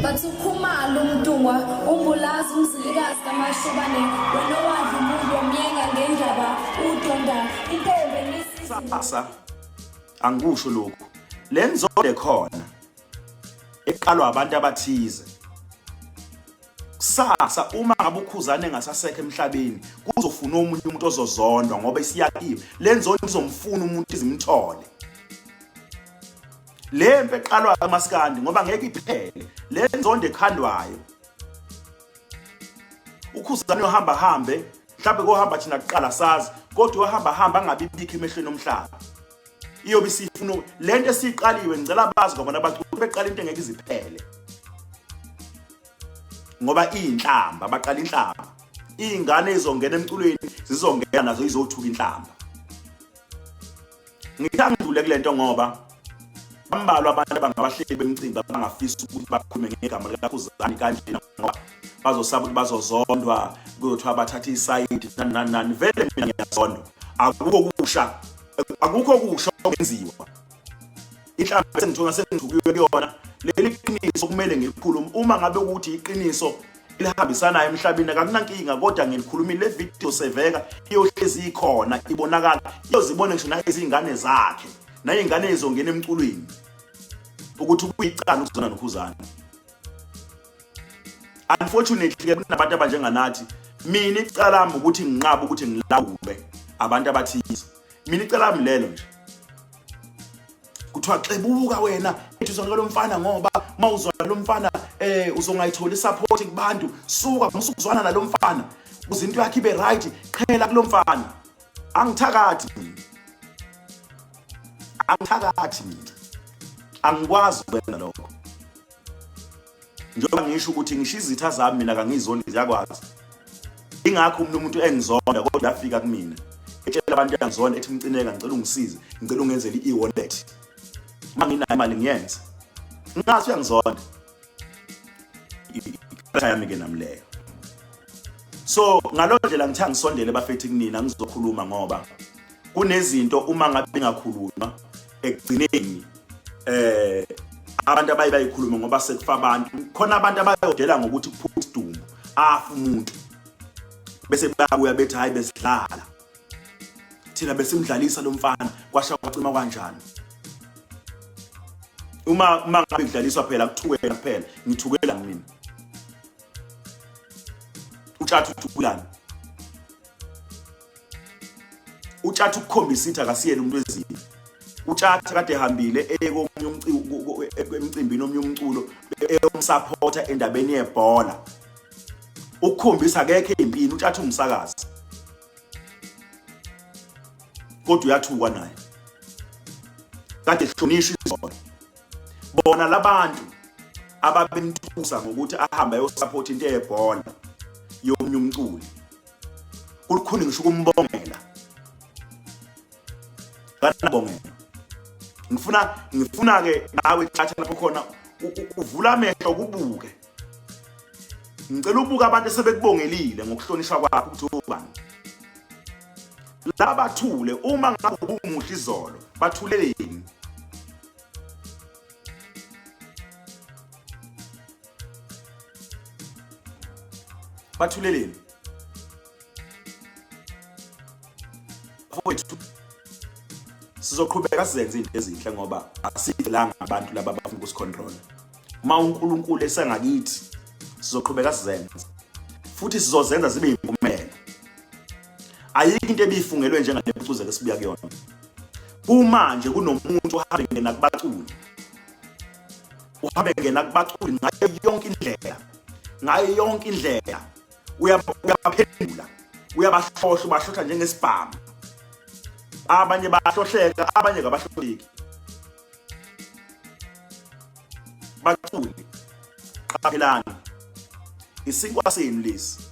Bathi ukhumalo umntungwa umbulazi umzilikazi kamashobane wena owadla umuntu omyenga ngendaba udonda intombi enisasa angikusho lokhu le nzondo ekhona eqalwa abantu abathize kusasa uma ngabe ukhuzane ngasasekho emhlabeni kuzofuna omunye umuntu ozozondwa ngoba isiyakiwe le nzondo izomfuna umuntu izimthole le mpe eqalwa kamaskandi ngoba ngeke iphele le nzondo ekhandwayo ukhuzane ohamba hambe mhlawumbe kohamba thina kuqala sazi kodwa ohamba hamba angabibikho emehlweni omhlaba iyobe isifuna le nto esiyiqaliwe ngicela bazi kwabona abaculi beqala into engeke iziphele ngoba iyinhlamba baqala inhlamba iy'ngane izongena emculweni zizongena nazo izothuka inhlamba Ngithe angidlule kule nto ngoba bambalwa abantu abangabahleli bemcimbi abangafisa ukuthi bakhulume ngegama likakhuzani kanjena ngoba bazosaba ukuthi bazozondwa kuzothiwa bathathe isayidi nani nani nani vele mina ngiyazondwa akukho kusha akukho kusha okwenziwa inhlamba sengithola sengithukiwe kuyona leli qiniso kumele ngilikhulume uma ngabe ukuthi iqiniso elihambisanayo emhlabeni akakunankinga kodwa ngilikhulumile le video seveka iyohlezi ikhona ibonakala iyozibona ngisho nayezingane zakhe nayingane ezongena emculweni ukuthi kuyicala ukuzona nokhuzana unfortunately ke kunabantu abanjenganathi mina icala lami ukuthi nginqaba ukuthi ngilawule abantu abathize mina icala lami lelo nje kuthiwa xebuka wena ethi uzonike lo mfana ngoba uma uzwana lo mfana um uzongayitholi isaphothi kubantu suka musukuzwana nalo mfana kuze into yakhe ibe right qhela kulo mfana angithakathi mina angithakathi mina angikwazi ukwenza lokho njengoba ngisho ukuthi ngisho izitha zami mina kangizondi ziyakwazi ingakho umuntu umuntu engizonda kodwa afika kumina etshela abantu yangizonda ethi mcineka ngicela ungisize ngicela ungenzele i-e-wallet uma nginayo imali ngiyenze ngathi uyangizonda ikhaya yami-ke nami leyo so ngaloo ndlela ngithe angisondele bafethi kunina ngizokhuluma ngoba kunezinto uma ngabe bengakhulunywa ekugcineni eh abantu abaye bayikhulume ngoba sekufa abantu khona abantu abayodela ngokuthi kuphume isidumbu afa umuntu bese bayakuya bethi hayi besidlala thina besimdlalisa lo mfana kwasha kwacima kanjani uma uma ngabe ngidlaliswa phela kuthukela kuphela ngithukela mina utshatha uthukulani utshatha ukukhombisa ukuthi akasiyena umuntu wezini utshatha kade ehambile eye komunye emcimbini omunye umculo eyomsapota endabeni yebhola ukukhombisa akekho empini utshatha umsakazi kodwa uyathukwa naye kade hlonishwa izolo bona labantu ababemthusa ngokuthi ahambe ayosupport into eyebhola yomunye umculi kulukhuni ngisho ukumbongela kanabongela ngifuna ngifuna ke nawe thatha lapho khona uvula amehlo kubuke ngicela ubuka abantu esebekubongelile ngokuhlonishwa kwakho ukuthi ubani laba thule uma ngabe ubumuhle izolo bathuleleni bathuleleni bafowethu sizoqhubeka sizenze into ezinhle ngoba asivelanga abantu laba abafuna ukusicontrol uma uNkulunkulu esangakithi sizoqhubeka sizenze futhi sizozenza zibe impumelelo ayikho into ebifungelwe njengale pucuze ke sibuya kuyona kumanje kunomuntu ohambe ngena kubaculi uhambe ngena kubaculi ngayo yonke indlela ngayo yonke indlela uyabaphendula uyabahlohla ubahlohla njengesibhamu abanye bahlohleka abanye kabahlohleki baculi qaphelani isinkwa senu lesi